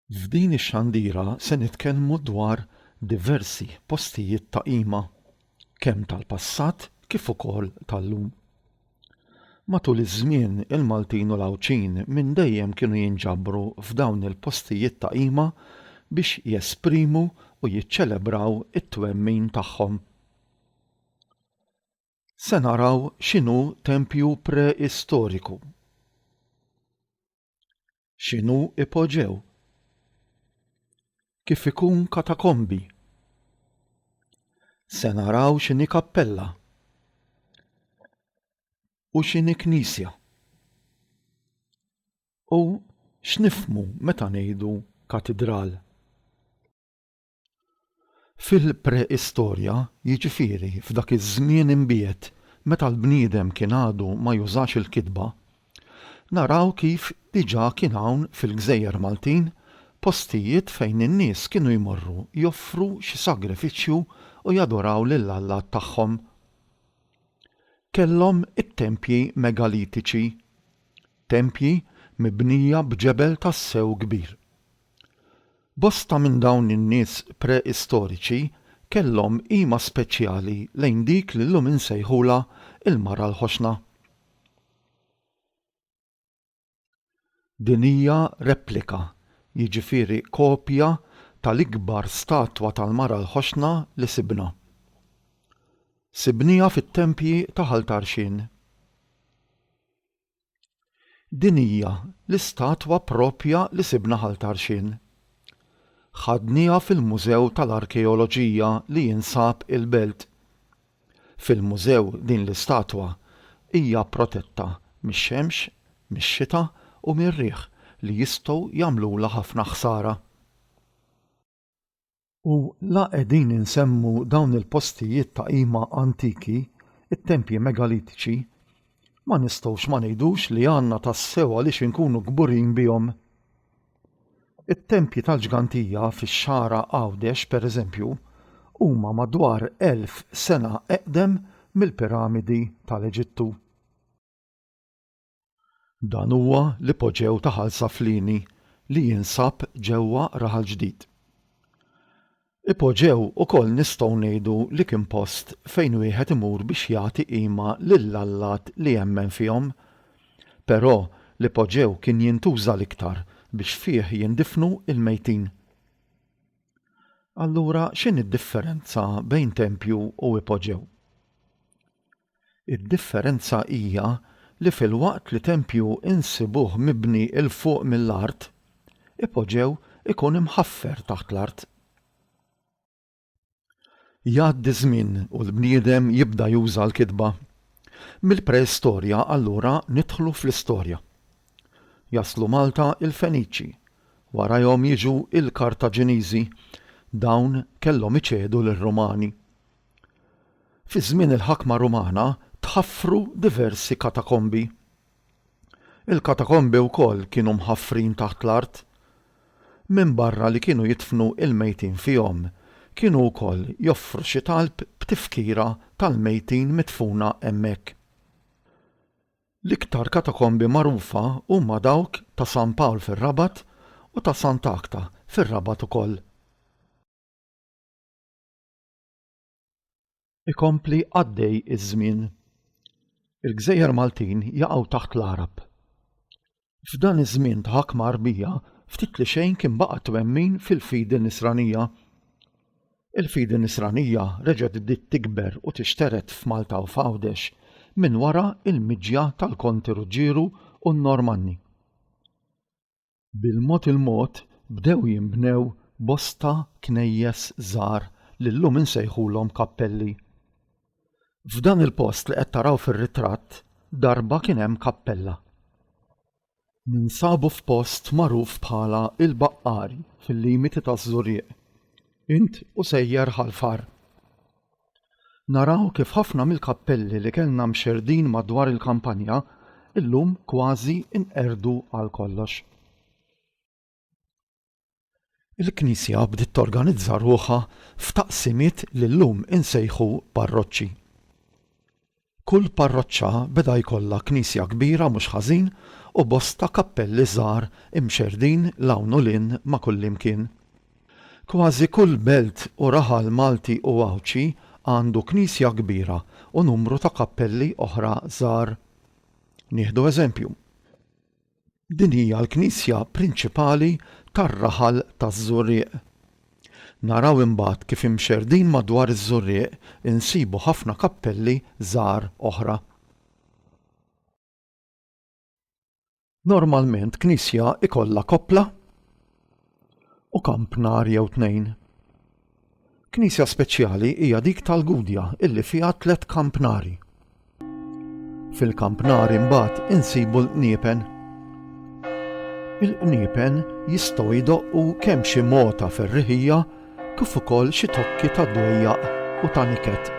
F'din ix-xandira se nitkellmu dwar diversi postijiet ta' qima, kemm tal-passat kif ukoll tal-lum. Matul iż-żmien, il-Maltin u l-Għawdxin minn dejjem kienu jinġabru f'dawn il-postijiet ta' qima biex jesprimu u jiċċelebraw it-twemmin tagħhom. Se naraw x'inhu tempju preistoriku. X'inhu ipoġew? Kif ikun katakombi? Se naraw x'inhi kappella u x'inhi knisja. U x'nifhmu meta ngħidu katidral? Fil-preistorja, jiġifieri f'dak iż-żmien imbiegħed meta l-bniedem kien għadu ma jużax il-kitba, naraw kif diġà kien hawn fil-gżejjer Maltin postijiet fejn in-nies kienu jmorru joffru xi sagrifiċċju u jadoraw lill-allat tagħhom. Kellhom it-tempji megalitiċi, tempji mibnija b'ġebel tassew kbir. Bosta minn dawn in-nies pre-istoriċi kellhom qima speċjali lejn dik li llum insejħulha l-Mara l-Ħoxna. Din hija replika, jiġifieri kopja tal-ikbar statwa tal-Mara l-Ħoxna li sibna. Sibnieha fit-tempji ta' Ħal Tarxien. Din hija l-istatwa proprja li sibna Ħal Tarxien. Ħadnieha fil-Mużew tal-Arkeoloġija li jinsab il-Belt. Fil-mużew din l-istatwa hija protetta mix-xemx, mix-xita u mir-riħ li jistgħu jagħmlulha ħafna ħsara. U la qegħdin insemmu dawn il-postijiet ta' qima antiki, it-tempji megalitiċi, ma nistgħux ma ngħidux li għandna tassew għaliex inkunu kburin bihom. It-tempji tal-ġgantija fix-Xagħra Għawdex, pereżempju, huma madwar elf sena eqdem mill-piramidi tal-Eġittu. Dan huwa l-ipoġew ta' Ħal Saflini li jinsab ġewwa Raħal Ġdid. Ipoġew ukoll nistgħu ngħidu li kien post fejn wieħed imur biex jagħti qima lill-allat li jemmen fihom. Però l-ipoġew kien jintuża l-iktar biex fih jindifnu l-mejtin. Allura x'inhi d-differenza bejn tempju u ipoġew? Id-differenza hija li filwaqt li tempju insibuh mibni 'l fuq mill-art, ipoġew ikun imħaffer taħt l-art. Jgħaddi żmien u l-bniedem jibda juża l-kitba. Mill-preistorja allura nidħlu fl-istorja. Jaslu Malta il-Feniċi, warajhom jiġu il-Kartaġiniżi, dawn kellhom iċedu lir-Rumani. Fi żmien il-ħakma Rumana tħaffru diversi katakombi. Il-katakombi wkoll kienu mħaffrin taħt l-art. Minbarra li kienu jidfnu l-mejtin fihom, kienu wkoll joffru xi talb b'tifkira tal-mejtin midfuna hemmhekk. L-iktar katakombi magħrufa huma dawk ta' San Pawl fir-Rabat u ta' Sant'Agħta fir-Rabat ukoll. Ikompli għaddej iż-żmien. Il-gżejjer Maltin jaqgħu taħt l-Għarab. F'dan iż-żmien ta' ħakma Għarbija ftit li xejn kien baqa' twemmin fil-fidi Nisranija. Il-fidi Nisranija reġgħet bdiet tikber u tixtered f'Malta u f'Għawdex minn wara l-miġja tal-Konti Ruġġieru u n-Normanni. Bil-mod il-mod bdew jinbnew bosta knejjes żgħar li llum insejħulhom kappelli. F'dan il-post li qed taraw fir-ritratt darba kien hemm kappella. Ninsabu f'post magħruf bħala Il-Baqqari fil-limiti taż-Żurrieq. Int u sejjer Ħal Far. Naraw kif ħafna mill-kappelli li kellna mxerrdin madwar il-kampanja llum kważi nqerdu għal kollox. Il-Knisja bdiet torganizza ruħha f'taqsimiet li llum insejħu parroċċi. Kull parroċċa beda jkollha knisja kbira mhux ħażin u bosta kappelli żgħar imxerrdin 'l hawn u 'l hinn ma' kullimkien. Kważi kull belt u raħal Malti u Għawdxi għandu knisja kbira u numru ta' kappelli oħra żgħar. Nieħdu eżempju. Din hija l-knisja prinċipali tar-raħal taż-Żurrieq. Naraw imbagħad kif imxerrdin madwar iż-Żurrieq insibu ħafna kappelli żgħar oħra. Normalment knisja ikollha koppla. u kamp nar jew tnejn. Knisja speċjali hija dik tal-Gudja illi fiha tliet kampnari. Fil-kampnari mbagħad insibu l-qniepen. Il-qniepen jistgħu jdoqqu kemm xi mota ferriħija kif ukoll xi tokki ta' dwejjaq u ta' niket.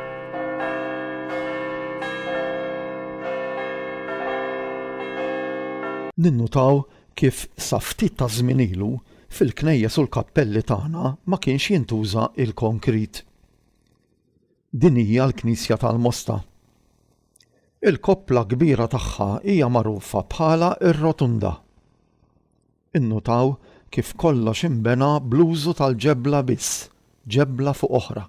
Ninnutaw kif sa ftit taż-żmien ilu fil-knejjes u l-kappelli tagħna ma kienx jintuża l-konkrit. Din hija l-Knisja tal-Mosta. Il-koppla kbira tagħha hija magħrufa bħala r-Rotunda. Innutaw kif kollox inbena bl-użu tal-ġebla biss, ġebla fuq oħra.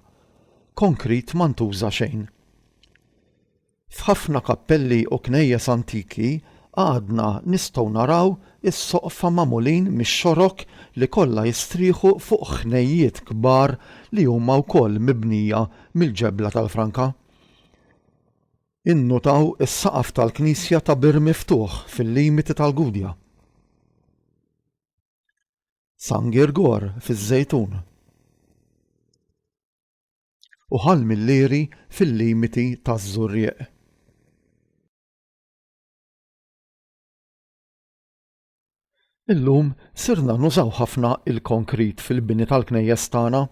Konkrit ma ntuża xejn. F'ħafna kappelli u knejjes antiki għadna nistgħu naraw is-soqfa magħmulin mix-xorok li kollha jistrieħu fuq ħnejjiet kbar li huma wkoll mibnija mill-ġebla tal-franka. Innutaw is-saqaf tal-knisja ta' bir miftuħ fil-limiti tal-Gudja. San Girgor fiż-Żejtun. u Ħal Millieri fil-limiti taż-Żurrieq. Illum sirna nużaw ħafna il-konkrit fil-bini tal-knejjes tagħna.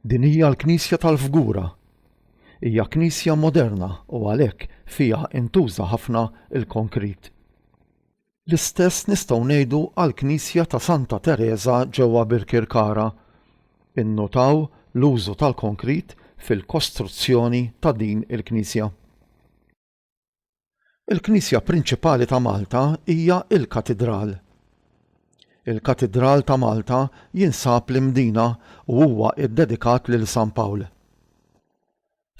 Din hija l-Knisja tal-Fgura. Hija knisja moderna u għalhekk fiha intuża ħafna l-konkrit. L-istess nistgħu ngħidu għall-knisja ta' Santa Tereża ġewwa Birkirkara. Innutaw l-użu tal-konkrit fil-kostruzzjoni ta' din il-knisja. Il-knisja prinċipali ta' Malta hija l-Katidral. Il-Katidral ta' Malta jinsab l-Imdina u huwa ddedikat lil San Pawl.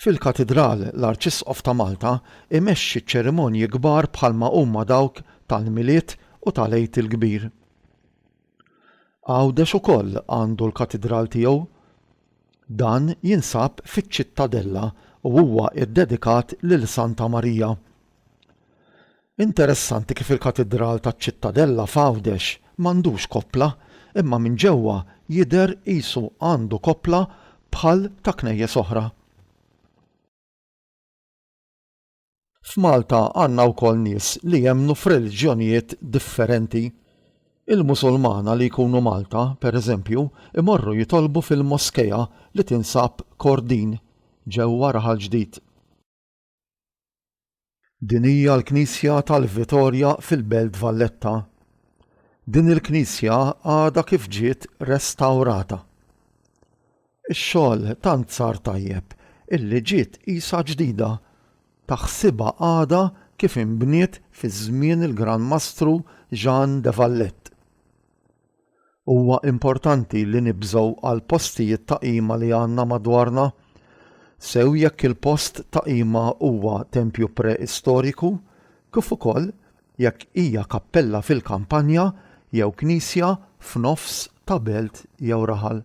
Fil-Katidral, l-Arċisqof ta' Malta imexxi ċerimonji kbar bħalma huma dawk tal-Milied u tal-Għid il-Kbir. Għawdex ukoll għandu l-Katidral tiegħu. Dan jinsab fiċ-Ċittadella u huwa ddedikat lil Santa Marija. Interessanti kif il-katidral taċ-Ċittadella f'Għawdex m'għandux koppla imma minn ġewwa jidher qisu għandu koppla bħal ta' knejjes oħra. F'Malta għandna wkoll nies li jemmnu f'reliġjonijiet differenti. Il-Musulmana li jkunu Malta, pereżempju, imorru jitolbu fil-moskea li tinsab Kordin, ġewwa Raħal Ġdid. Din hija l-Knisja tal-Vitorja fil-Belt Valletta. Din il-Knisja għadha kif ġiet restawrata. Ix-xogħol tant sar tajjeb illi ġiet qisha ġdida, taħsibha għadha kif inbniet fi żmien il-Gran Mastru Jean de Valette. Huwa importanti li nibżgħu għall-postijiet ta' qima li għandna madwarna, sew jekk il-post ta' qima huwa tempju preistoriku kif ukoll jekk hija kappella fil-kampanja jew knisja f'nofs ta' belt jew raħal.